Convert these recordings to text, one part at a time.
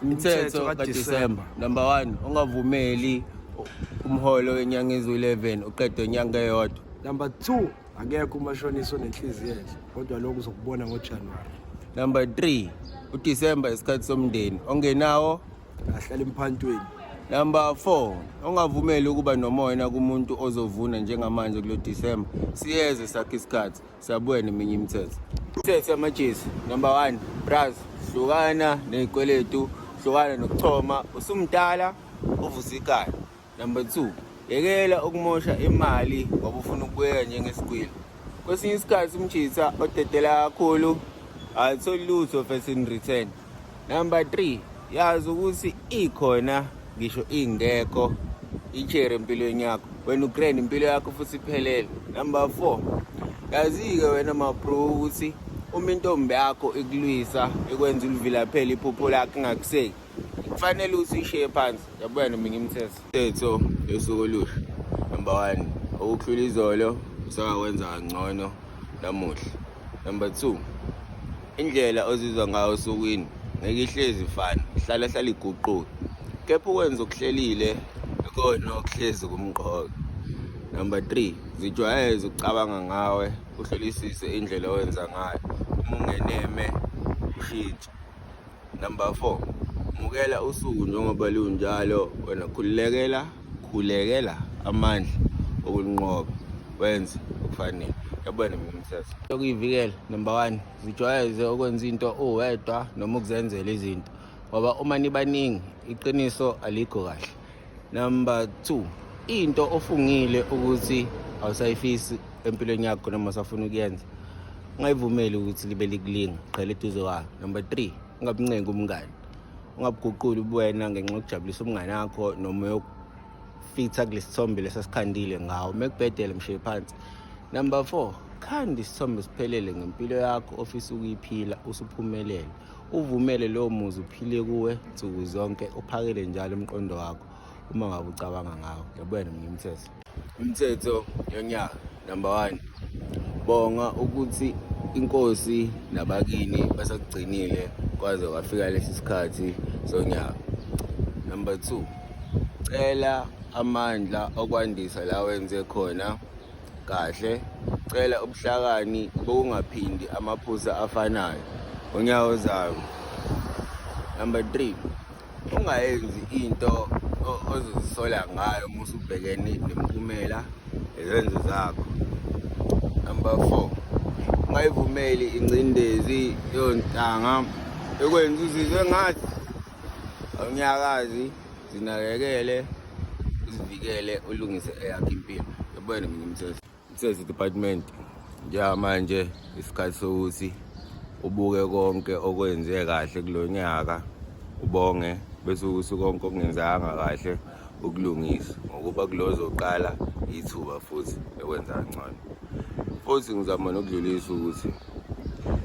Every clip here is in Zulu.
Umthetho kaDisemba number 1 ungavumeli umholo wenyanga ezu-11 uqedwe inyanga eyodwa. Number 2 akekho umashonisa onenhliziyo enhle kodwa lokho uzokubona ngoJanuary. Number 3 uDisemba isikhathi somndeni ongenawo ahlala emphantweni. Number 4 ongavumeli ukuba nomoya kumuntu ozovuna njengamanje kulo December siyeze sakhe isikhathi Sabweni eminye imithetho. Imithetho yamajezi number 1 braz hlukana nezikweletu hlukana nokuchoma usumdala uvusa ikhala. Number 2 yekela ukumosha imali ngoba ufuna ukubuyeka njengesigwili. Kwesinye isikhathi umjitha odedela kakhulu alitholi lutho first in return. Number 3 yazi ukuthi ikhona ngisho ingekho ichere empilweni yakho wena ugrand impilo yakho futhi iphelele number 4 yazi-ke wena mabro ukuthi uma intombi yakho ikulwisa ikwenza ulivilaphela iphupho lakho ingakuseki kufanele ukuthi ishiye phansi yabona mina ngimthetho Tetho yosuku olusha number one okukhula izolo usakakwenza kangcono namuhla number two indlela ozizwa ngayo osukwini ngeke ihlezi fana hlala hlala iguquke kepha ukwenza okuhlelile ikona okuhlezi kumqoka number three zijwayeze ukucabanga ngawe uhlolisise indlela owenza ngayo uma ungeneme ushintshe Number 4. Mukela usuku njengoba lunjalo wena khulekela khulekela amandla okunqoba wenze okufanele. Yabona mina msasa. Yokuyivikela number 1 zijwayeze okwenza into uwedwa noma ukuzenzela izinto ngoba uma nibaningi iqiniso alikho kahle. number two into ofungile ukuthi awusayifisi empilweni yakho noma usafuna ukuyenza ungayivumeli ukuthi libe likulinga qhela eduze kwayo number three ungabuncengi umngani ungabuguquli ubuwena ngenxa yokujabulisa umngane wakho noma yokufitha kulesi sithombe lesasikhandile ngawo uma kubhedele mshiye phansi number four khanda isithombe siphelele ngempilo yakho ofisa ukuyiphila usuphumelele uvumele lowo muzi uphile kuwe nsuku zonke uphakele njalo umqondo wakho uma ngabe ucabanga ngawo yabona mina umthetho umthetho yonyaka number one bonga ukuthi inkosi nabakini basakugcinile kwaze kwafika lesi sikhathi sonyaka number two cela amandla okwandisa la wenze khona kahle cela ubuhlakani bokungaphindi amaphusa afanayo unyawo zayo number 3 ungayenzi into ozozisola ngayo uma usubhekene nemiphumela ezenzo zakho number 4 ungayivumeli ingcindezi yontanga ekwenza uzizwe ngathi awunyakazi zinakekele uzivikele ulungise eyakho impilo yabona mina mthetho mthetho department njengamanje isikhathi sokuthi ubuke konke okwenze kahle kulo nyaka ubonge bese ukuthi konke okungenzanga kahle ukulungisa ngokuba kulozoqala ithuba futhi lokwenza ngcono futhi ngizama nokudlulisa ukuthi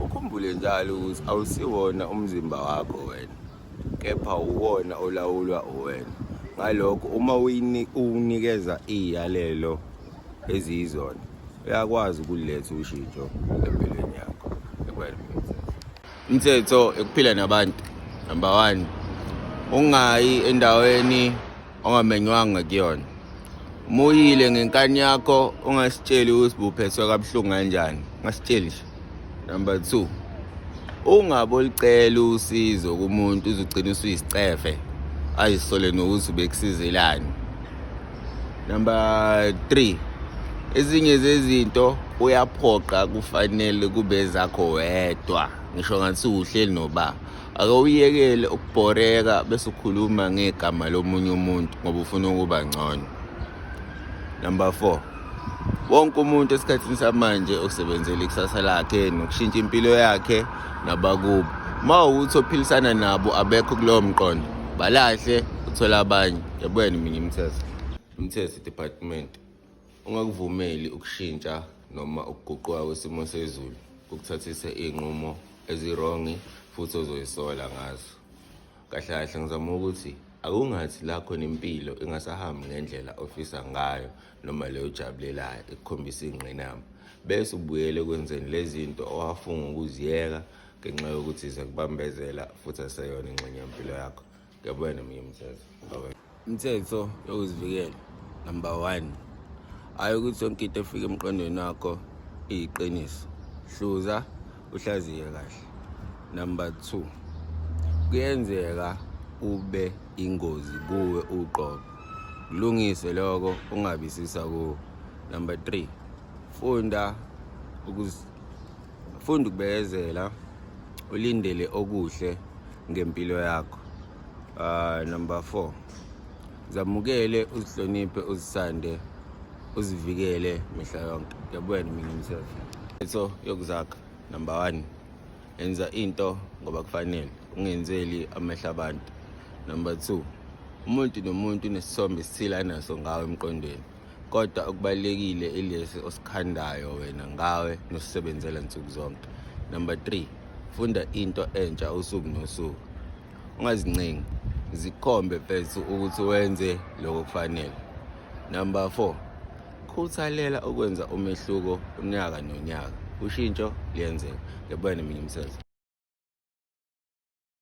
ukhumbule njalo ukuthi awusiwona umzimba wakho wena kepha uwona olawulwa uwena ngalokho uma uwunikeza iy'yalelo eziyizona uyakwazi ukuletha ushintsho empilweni yakho umthetho ekuphila nabantu number one ungayi endaweni ongamenywanga kuyona muyile ngenkani yakho ungasitsheli ukuthi buphethwe kabuhlungu kanjani ngasitsheli nje number two ungabolicela usizo kumuntu uzogcina usuyisicefe ayisole nokuthi ubekusizelani number three ezinye zezinto uyaphoqa kufanele kube zakho wedwa ngisho ngathi uhleli noba ake uyekele ukubhoreka bese ukhuluma ngegama lomunye umuntu ngoba ufuna ukuba ngcono number 4 wonke umuntu esikhathini samanje usebenzela ikusasa lakhe nokushintsha impilo yakhe nabakubo uma ukuthi ophilisana nabo abekho kulowo mqondo balahle uthola abanye yabuyena mina imithetho imithetho department Ungakuvumeli ukushintsha noma ukuguquka kwesimo sezulu kukuthathise iy'nqumo ezirongi futhi ozoyisola ngazo. Kahle kahle ngizama ukuthi akungathi lakho nempilo ingasahambi ngendlela ofisa ngayo noma leyo ojabulelayo ekukhombisa iy'ngqinamba bese ubuyele ekwenzeni lezi zinto owafunga ukuziyeka ngenxa yokuthi ziyakubambezela futhi aseyona ingxenye yempilo yakho. Ngiyabona mina mthetho. Mthetho yokuzivikela number 1. Hayi ukuthi yonke into efika emqondweni wakho iyiqiniso. Hluza uhlaziye kahle. Number 2. Kuyenzeka ube ingozi kuwe uqobo. Kulungise lokho ungabisisa kuwe. Number 3. Funda ukuzi funda ukubekezela ulindele okuhle ngempilo yakho uh, number four zamukele uzihloniphe uzisande uzivikele mihla yonke yabona mina umsebenzi into yokuzakha number one enza into ngoba kufanele ungenzeli amehla abantu number two umuntu nomuntu unesithombe esithile anaso ngawo emqondweni kodwa okubalekile ilesi osikhandayo wena ngawe nosisebenzela nsuku zonke number 3 funda into entsha usuku nosuku ungazincengi zikhombe mfethu ukuthi wenze lokho kufanele number 4 khuthalela ukwenza umehluko unyaka nonyaka ushintsho liyenzeka ngibone mina umsebenzi